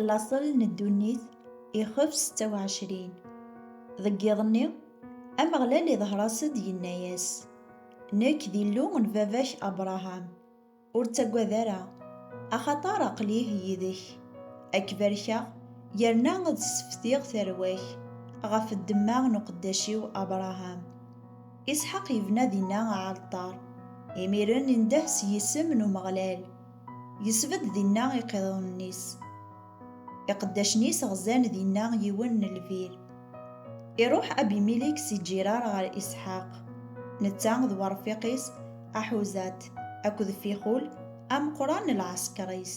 laṣel n ddunit ixef 26 deg yiḍ-nni ameɣlal iḍher-as-d yenna-yas nekk d illu n baba-k abraham ur ttagad ara axaṭer aql-ih yid-k ad k-barkeɣ yerna ad sseftiɣ tarwa-k ɣef ddemma n uqeddac-iw abraham isḥaq yebna dinna aɛalṭar imiren indeh s yisem n umeɣlal Yesbedd dinna iqiḍunen-is. Iqeddacen-is ɣzan dinna yiwen n lbir. Iruḥ Abimilik si Ǧirar ɣer Isḥaq, netta d werfiq-is Aḥuzat akked Fixul ameqqran n lɛeskeṛ-is.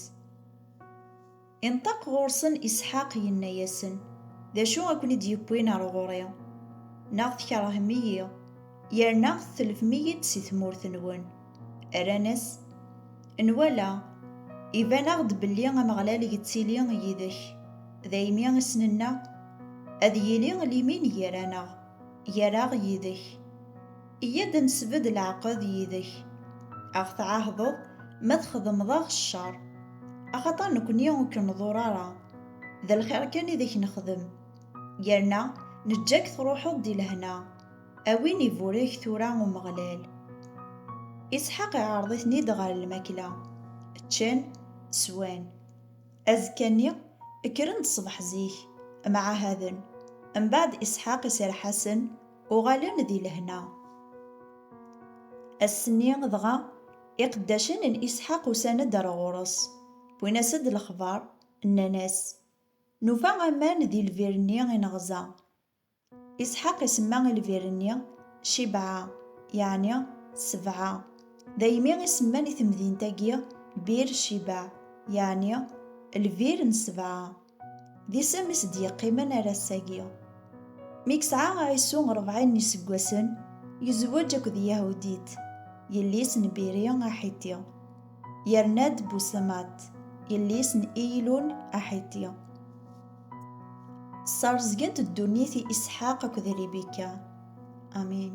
Inṭeq ɣur-sen Isḥaq, yenna-yasen, D acu a ken-id-yewwin ar ɣur-i? Neɣ tkerhem-iyi, yerna tetlefm-iyi-d si tmurt-nwen? Rran-as, Nwala, iban-aɣ-d belli Ameɣlal yettili yid-k, daymi i s-nenna, Ad yili limin gar-aneɣ, gar-aɣ yid-k. Iyya-d ad nesbedd leɛqed yid-k, a ɣ-tɛahdeḍ ma txedmeḍ-aɣ ccer, axaṭer nekkni ur k-nḍur ara, d lxir kan i d ak-nexdem, yerna neǧǧa-k truḥeḍ di lehna, a win iburek tura Umeɣlal. Isḥaq iɛreḍ-iten-id ɣer lmakla, ččan, swan. Azekka-nni, kkren-d ṣṣbeḥ zik, mɛahaden. Mbeɛd Isḥaq iserreḥ-asen. uɣalen di lehna. Ass-nni dɣa, iqeddacen n Isḥaq usan-d ar ɣur-s, wwin-as-d lexbar, nnan-as, Nufa aman di lbir-nni i neɣza. Isḥaq isemma i lbir-nni Cibɛa, yeɛni Sebɛa, daymi i semman i temdint-agi Bir Cibaɛ, yeɛni lbir n Sebɛa. D isem i s-d-yeqqimen ar ass-agi. Mi yesɛa Ɛisu ṛebɛin n yiseggasen, yezweǧ akked Yahudit, yelli-s n Biri Aḥiti. Yerna-d Busemat, yelli-s n Iyilun Aḥiti. Ssaṛezgent ddunit i Isḥaq akked Ribika. Amin.